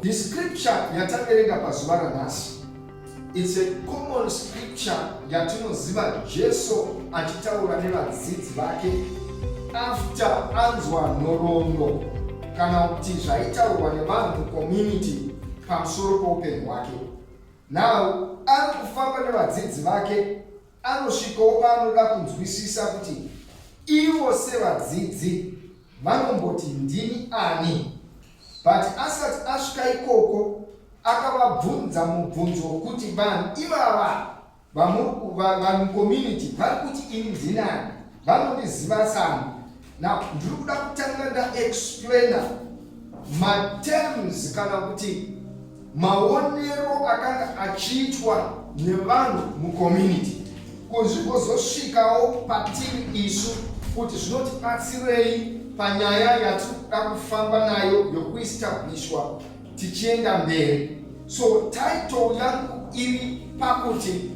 The scripture yataverenga pazuva ranhasi it's a common scripture yatinoziva Jesu achitaura nevadzidzi vake after anzwa nhoroondo kana kuti zvaitaurwa nevanhu community pamusoro poupenyu hwake now ari kufamba nevadzidzi vake Anosvikawo paanoda kunzwisisa kuti ivo sevadzidzi vanomboti ndini ani. But asati asvika ikoko akavabvunza mubvunzo wokuti vanhu ivava vamucommunity vari kuti ini ndinani vanondiziva sani Now, ndiri kuda kutanga ndaexplaina materms kana kuti maonero akanga achiitwa nevanhu mucommunity kuzvigozosvikawo patiri isu kuti zvinotibatsirei panyaya yatiri kuda kufamba nayo yokuistablishwa tichienda mberi so title yangu iri pakuti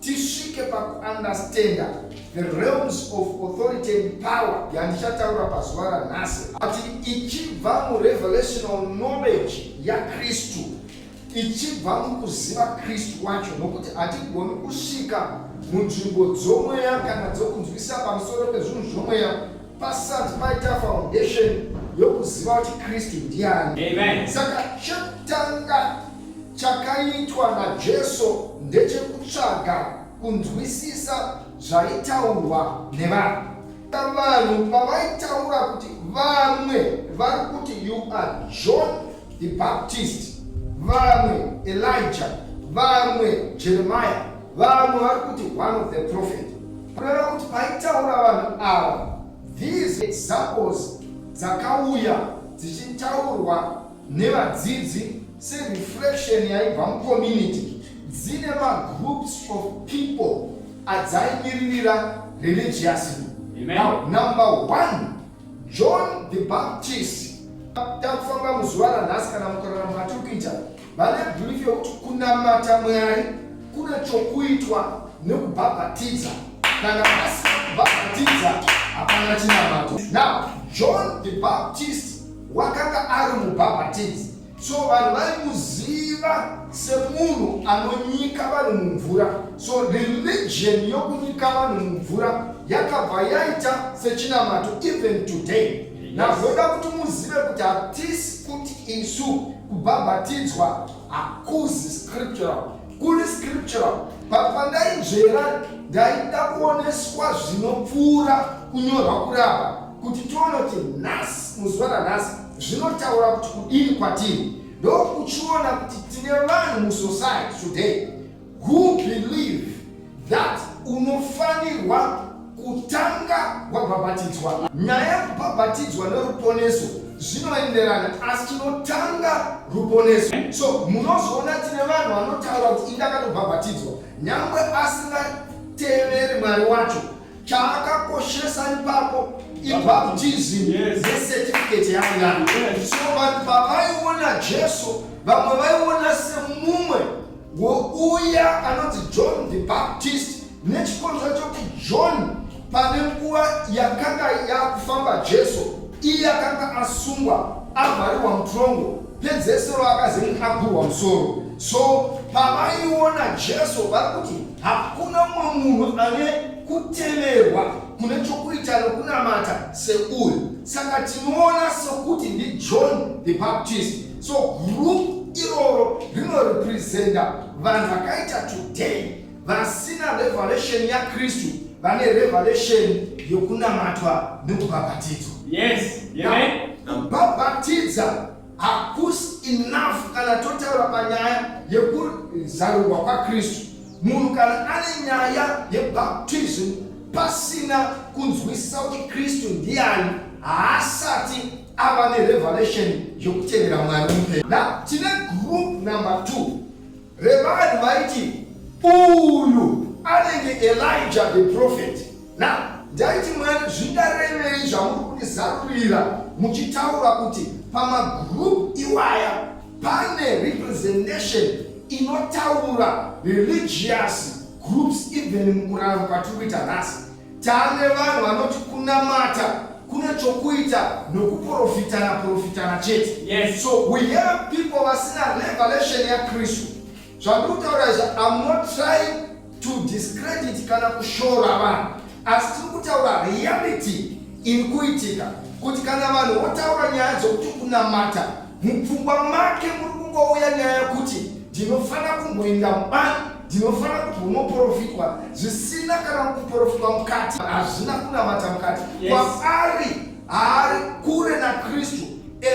tisvike pakuunderstanda the realms of authority and power yandichataura pazuva ranhasi ati ichibva murevelational knowledge yakristu ichibva mukuziva kristu wacho nokuti hatigoni kusvika munzvimbo dzomweya kana dzokunzwisa pamusoro pezvinhu zvomweya Pasati paita foundation yokuziva kuti Kristu ndiani. Amen. Saka chekutanga chakaitwa naJesu ndechekutsvaga kunzwisisa zvaitaurwa nevanhu. Vanhu pavaitaura kuti vamwe vari kuti you are John the Baptist, vamwe Elijah, vamwe Jeremiah, vamwe vari kuti one of the prophet Kureva kuti paitaura vanhu ava these examples dzakauya dzichitaurwa nevadzidzi sereflection yaibva mucommunity dzine magroups of people adzaimiririra religiously now number one john the baptist takufamba muzuva ranhasi kana mukorana matiri kuita Vane bhirifi yokuti kunamata Mwari kuna chokuitwa nekubhabhatidza. Kana pasina kubhabhatidza, hapana chinamato. Now, John the Baptist wakanga ari mubhabhatidzi, so vanhu vaimuziva semunhu anonyika vanhu mumvura. So religion yokunyika vanhu mumvura yakabva yaita sechinamato even today. Nazvoda kuti muzive kuti hatisi kuti isu Kubhabhatidzwa hakuzi scriptural, kuri scriptural but pandainzvera ndaida kuoneswa zvinopfuura kunyorwa kurapa kuti tione kuti nhasi muzuva ranhasi zvinotaura kuti kudini kwatiri ndokuchiona kuti tine vanhu musociety today Who believe that unofanirwa kutanga wabhabhatidzwa. Nyaya yekubhabhatidzwa neruponeso zvinoenderana asi tinotanga ruponeso. So munozoona tine vanhu vanotaura kuti indakatobhabhatidzwa nyangwe asingateveri mwari wacho chaakakoshesa ipapo ibhabhutizim nesetifiketo yangani. So vanhu pavaiona Jesu vamwe vaiona semumwe wouya anonzi john the baptist nechikonzwa chokuti john pane nguva yakanga yakufamba jesu iye akanga asungwa avharirwa mutongo pedzesero akazenge agurwa musoro so pavaiona jesu vari kuti hakuna mumwe munhu ane kuteverwa kune chokuita nokunamata seuyu saka tinoona sokuti ndijohn the baptist so group iroro rinorepresenta vanhu vakaita today vasina revelation yakristu vane revelation yokunamatwa nekubhabhatidzwa yes kubhabhatidza hakusi enough kana totaura panyaya yekuzarurwa kwakristu munhu kana ane nyaya yebaptism pasina kunzwisisa kuti kristu ndiani haasati ava nerevelation yokutevera mwari mupe na tine group number 2 revanhu vaiti uyu anenge elija the prophet na ndaiti mwari zvindarevei zvamuri kundizarurira muchitaura kuti pamagroup iwaya pane representation inotaura religious groups even mukurarama kwatiri kuita nhasi Tane vanhu vanoti kunamata kune chokuita nokuprofitana profitana chete. Yes. So we have people vasina revelation yaKristu. Zvandikutaura izvi I'm not trying to discredit kana kushora vanhu. Asi tiri kutaura reality iri kuitika kuti kana vanhu votaura nyaya dzokuti kunamata Mupfungwa make muri kungouya nyaya yokuti ndinofanira kumboenda mubani ndinofanira kumbonoprofitwa zvisina kana kuprofitwa mukati hazvina kunamata mukati kwaari haari kure nakristu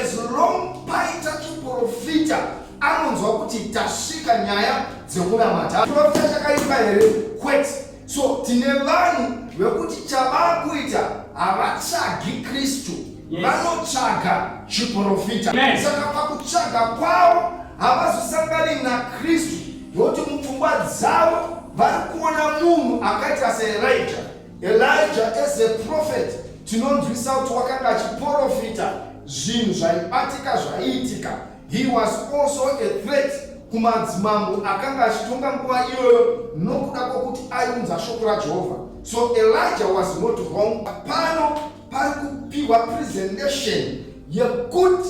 as long paita chiprofita anonzwa kuti tasvika nyaya dzekunamata profita chakaipa here kwete so tine vanhu vekuti chavaakuita havatsvagi kristu vanotsvaga chiprofita saka pakutsvaga kwavo havazosangani nakristu nokuti mupfungwa dzavo vari kuona munhu akaita seelija elija as a prophet tinonzwisa kuti wakanga achiprofita zvinhu zvaibatika zvaiitika he was also a threat kumadzimambo akanga achitonga nguva iyoyo nokuda kwokuti aiunza shoko rajehovha so elija was not wrong pano pari kupiwa presentation yekuti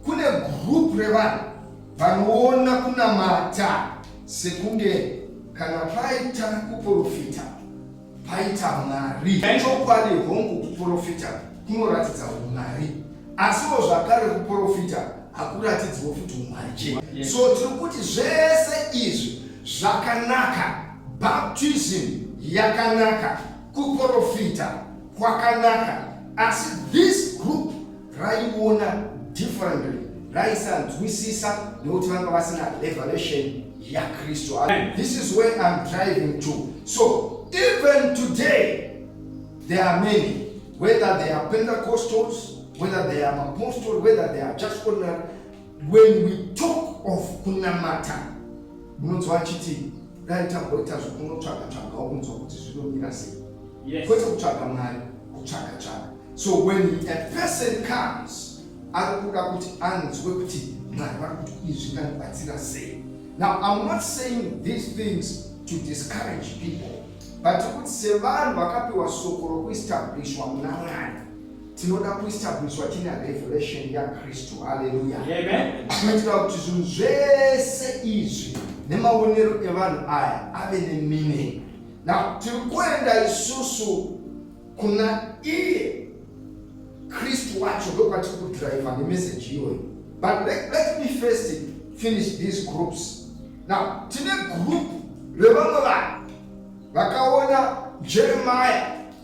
kune group revanhu vanoona kunamata sekunge kana paita kuprofita paita mwari chokwadi hongu kuprofita kunoratidza umwari asiwo zvakare kuprofita hakuratidziwo futi umwari chete so tiri kuti zvese izvi zvakanaka baptism yakanaka kuprofita kwakanaka asi this group raiona differently raisanzwisisa nekuti vanga vasina revelation yakristu this is where im driving to so even today there are many whether they are pentecostals whether they are apostle whether they are just ordinary when we talk of kunamata munonzwa achiti dai tamboita zvokunotsvaga tsvaga unonzwa kuti zvinomira sei kwete kutsvaga mwari kutsvaga tsvaga so when a person comes ari kuda kuti anzwe kuti mwari vari kuti izvi nganibatsira sei now im not saying these things to discourage people but kuti sevanhu vakapiwa soko rokuestablishwa muna mwari tinoda kuestabliswa tine revelation yakristu haleluya tinoitira kuti zvinhu zvese izvi nemaonero evanhu aya ave nemeaning na tiri kuenda isusu kuna iye kristu wacho ndokwatiri kudriver nemeseji iyoyo but let, let me first finish these groups now tine group revamwe vanhu vakaona jeremiah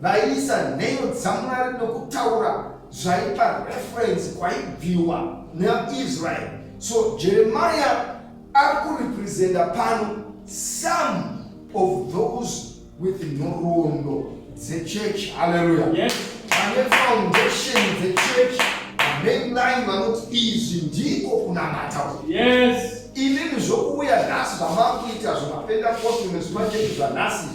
Vaiisa nheyo dzaMwari nokutaura zvaipa reference kwaibviwa neIsrael. So Jeremiah ari kurepresenta pano some of those with nhoroondo dzechurch. Haleluya. Yes. Vane foundation dzechurch, mainline vanoti izvi ndiko kunamata uku. Yes. Inini zvokuuya nhasi zvamakuita zvemapendakosti nezvimachurch zvanhasi.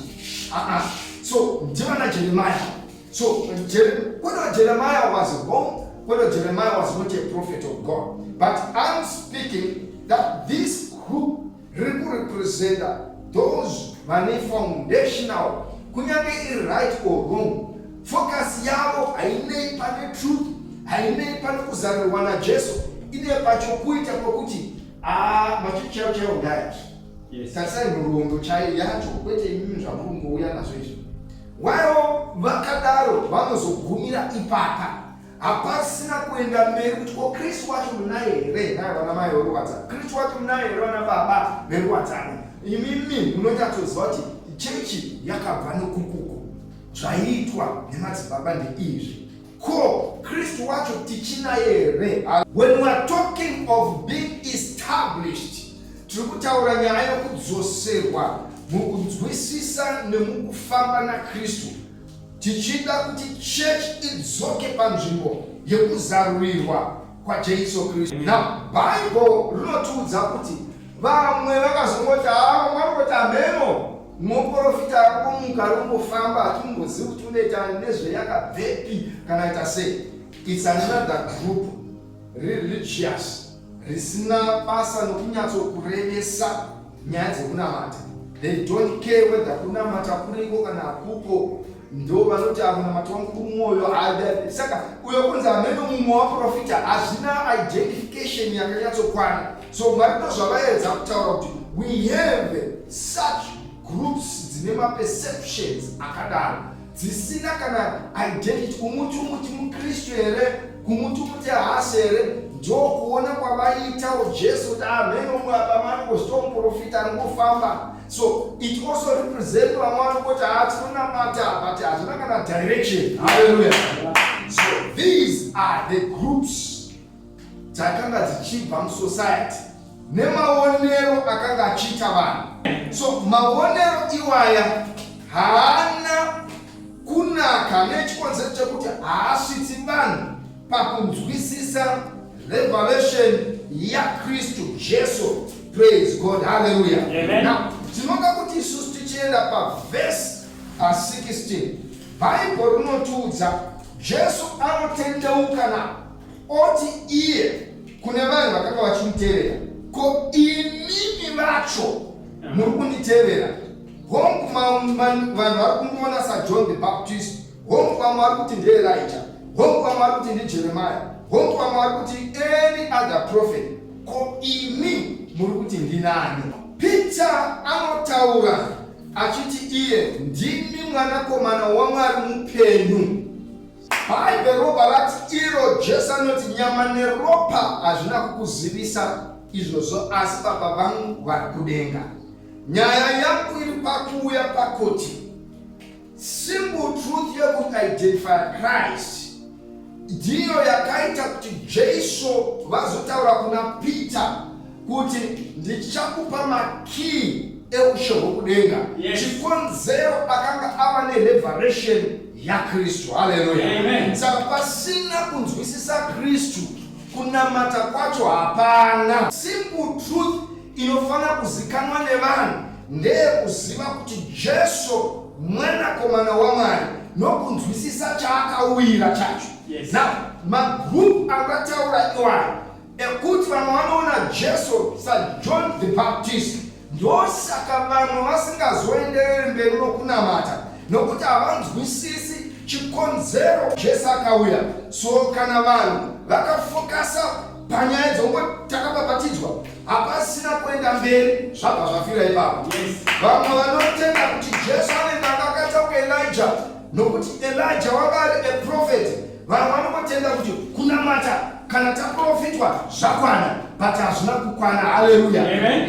Ah ah. So ndivana Jeremiah. So Jer whether Jeremiah was wrong, whether Jeremiah was not a prophet of God. But I'm speaking that this group represent those vane foundational kunyange iri right or wrong focus yavo hainei pane truth hainei pane kuzarirwa najesu ine pachokuita kwekuti aa ah, machichero chero ndaya Yes. Tarisai murondo chaiyo yacho kwete imimi zvamurungouya nazvo izvi. Waro vakadaro vanozogumira ipapa. Hapasina kuenda mberi kuti ko Kristu wacho munaye here? Naye vana mai veruwadza. Kristu wacho munaye here vana baba veruwadzano? Imimi munonyatsoziva kuti chechi yakabva nokukuku. Zvaiitwa nemadzibaba ndeizvi. Ko Kristu wacho tichinaye here? When we are talking of being established, tiri kutaura nyaya yokudzoserwa mukunzwisisa nemukufamba naKristu, tichida kuti church idzoke panzvimbo yekuzarurirwa kwaJesu Kristu. Now, Bible rinotiudza kuti vamwe vakazongoti haa ah, mwari kuti hameno Muporofita akomuka arombofamba hatimbozivi kuti unoita nezveyakabvepi kana ita sei. It's another group religious risina basa nokunyatsokurevesa nyaya dzekunamata. They don't care whether kunamata kuriko kana hakuko. ndo vanoti amunamato wangu kumwoyo saka uyo kunzi amene mumwe waprofita hazvina identification yakanyatsokwana so mwari ndo zvavaedza kutaura kuti we have such groups dzine maperceptions akadaro dzisina kana identity kumuti umuti mukristu here kumuti umuti haasi here ndo kuona kwavaitawo jesu kuti amene umwe abamanikostomuprofita anongofamba So it also represents vamwari kuti hatinonamata but hatina kana direction. Hallelujah. So these are the groups dzakanga dzichibva musociety nemaonero akanga achiita vanhu. So maonero iwaya haana kunaka nechikonzero chekuti haasvitsi vanhu pakunzwisisa revelation yakristu jesu praise god halleluya now tinoda kuti isusu tichienda pavhesi pa16 bhaibho rinotiudza jesu anotendeuka na oti iye kune vanhu vakanga vachimutevera ko imimi vacho muri kunditevera hongu vanhu vari kundiona sajohn the baptist Hongu vamwe vari kuti ndiElija, hongu vamwe vari kuti ndiJeremia, hongu vamwe vari kuti any other prophet. Ko imi muri kuti ndinani? Peter anotaura achiti iye ndimi mwanakomana waMwari mupenyu. Bhaibheri ropa rati iro Jesu anoti nyama neropa hazvina kukuzivisa izvozvo asi baba vangu vari kudenga. Nyaya yangu iri pakuuya pakuti Simple truth yekuti identify Christ ndiyo yakaita kuti Jesu vazotaura kuna Peter kuti ndichakupa makii eushe hwokudenga. Yes. Chikonzero akanga ava nereveration yaKristu. Haleluya. Saka pasina kunzwisisa Kristu kunamata kwacho hapana. Simple truth inofanira kuzikanwa nevanhu ndeyekuziva kuti Jesu mwanakomana waMwari nokunzwisisa chaakauyira chacho. Yes. Now, magroup angataura iwayo ekuti vamwe vanoona Jesu saJohn the Baptist ndosaka vamwe vasingazoendereri mberi nokunamata nokuti havanzwisisi chikonzero Jesu akauya. So kana vanhu vakafokasa panyaya dzongo takabhabhatidzwa hapasina kuenda mberi zvabva zvafira ipapo vamwe vanotenda kuti jesu anenge akakata kuelija nokuti elija wanga ari eprofeti vamwe vanongotenda kuti kunamata kana taprofitwa zvakwana but hazvina kukwana haleluya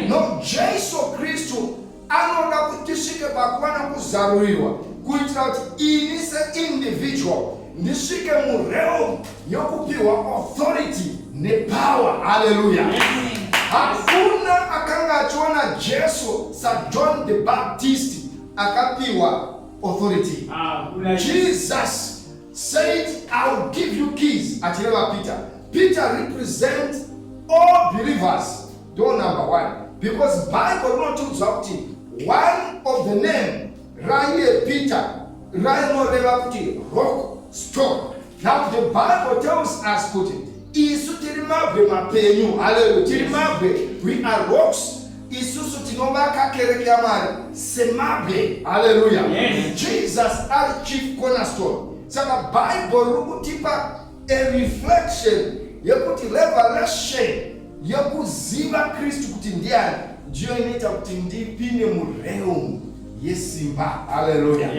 no jesu kristu anoda kuti tisvike pakuva nokuzarurirwa kuitira kuti ini seindividual ndisvike murealm yokupiwa authority nepower haleluya hakuna akanga achiona jesu sajohn the baptist akapiwa authority ah, jesus said i will give you keys achireva peter peter represent all believers Door number one. Because Bible rinotiudza kuti one of the name raiye Peter rainoreva kuti rock stone. Now the Bible tells us kuti isu tiri mabwe mapenyu. Haleluya. Tiri mabwe. We are rocks isusu tinovaka kereke yamwari semabwe haleluya yes. jesus ari chief cornerstone saka bhaibheri riri kutipa a reflection yekuti revelation yekuziva kristu kuti ndiani ndiyo inoita kuti ndipinde murealm yesimba haleluya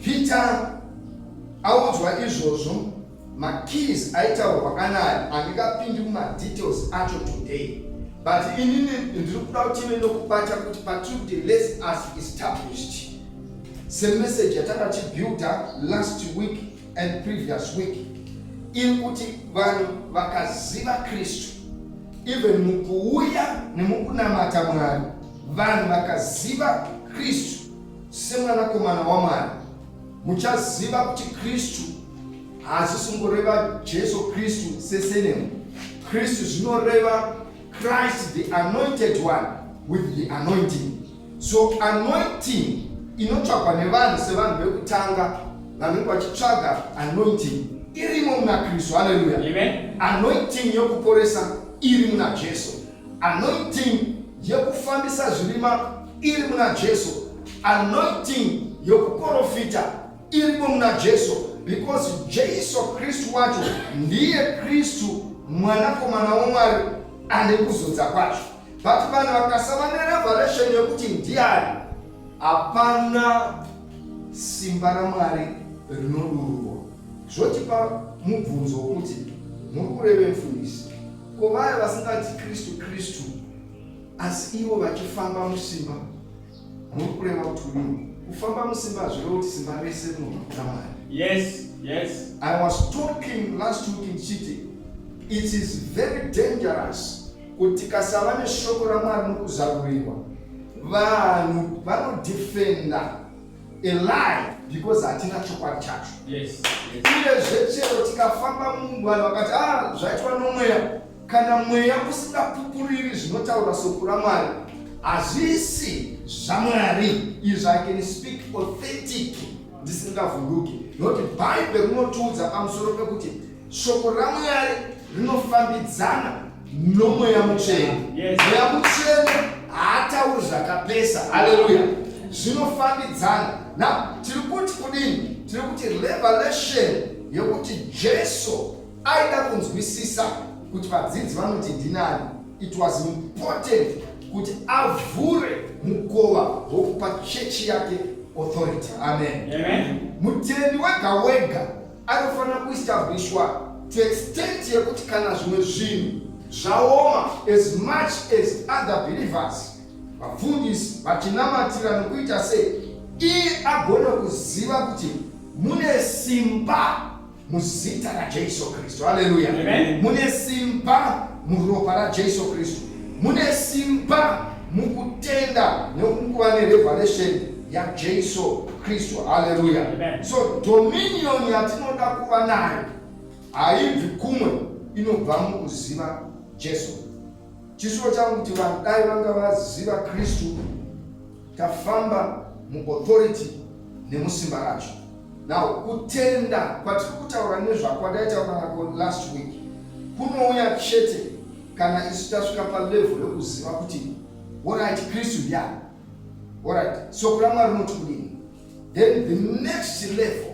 peter audzwa izvozvo makeys aitaurwa kanayi handingapindi mumadetails acho today but inini ndiri kuda kuti ive nokubata kuti patribute less as established semessage yatanga tichibuilda last week and previous week iri kuti vanhu vakaziva kristu even mukuuya nemukunamata mwari vanhu vakaziva kristu semwanakomana wamwari muchaziva kuti kristu hazvisi kungoreva jesu kristu sesenemu kristu zvinoreva christ the anointed one with the anointing So anointing inotsvagwa nevanhu sevanhu vekutanga vanenge vachitsvaga anointing irimo muna kristu haleluya anointing yokuporesa iri muna jesu anointing yekufambisa zvirima iri muna jesu anointing yokuprofita irimo muna jesu because jesu kristu wacho ndiye kristu mwanakomana womwari ane kuzodza kwacho but vanhu vakasava nerevelation yekuti ndiani hapana simba ramwari rinodururwa zvotipa mubvunzo wokuti muri kureve mfundisi ko vaya vasingati kristu kristu asi ivo vachifamba musimba muri kureva kuti rini kufamba musimba hazvireva kuti simba rese rinobva kuna mwari yes yes i was talking last week in chiti it is very dangerous Kuti tikasava neshoko raMwari nokuzarurirwa, vanhu vanodefenda a lie because hatina chokwadi chacho uyezve chero tikafamba mungwani vakati ah zvaitwa nomweya kana mweya usingapupuriri zvinotaura soko ramwari hazvisi zvamwari izvi i can speak authentic ndisingavhunduki nokuti bhaibheri rinotiudza pamusoro pekuti Shoko raMwari rinofambidzana nomweya mutsvene. Mweya mutsvene haatauri zvakapesa. Haleluya. Zvinofambidzana. Na tiri kuti kudini? Tiri kuti revelation yekuti Jesu aida kunzwisisa kuti vadzidzi vanoti ndinani. It was important kuti avhure mukova wokupa chechi yake authority. Amen. Amen. Mutendi wega wega anofanira kuestablishwa to extent yekuti kana zvimwe zvinhu zvaoma as much as other believers vafundisi vachinamatira nokuita sei iye agona kuziva kuti mune simba muzita rajesu kristu haleluya mune simba muropa rajesu kristu mune simba mukutenda nokuva nerevelation yaJesu Kristu. Haleluya! So dominion yatinoda kuva nayo haibvi kumwe, inobva mukuziva Jesu. Chisuwo changu kuti vanhu dai vanga vaziva Kristu, tafamba muauthority nemusimba racho. Now kutenda kwatiri kutaura nezvako adaitaura nako last week kunouya chete kana isu tasvika palevel rekuziva kuti what right Kristu ndiani Alright, soko raMwari rinoti kudini? Then the next level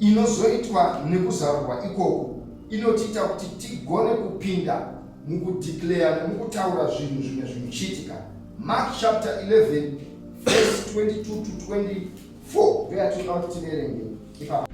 inozoitwa nekuzarurwa ikoko inotiita kuti tigone kupinda mukudeclare nemukutaura zvinhu zvimwe zvinochiitika. Mark chapter 11 verse 22 to 24 ndoyatinoda kuti tiverenge ipapo.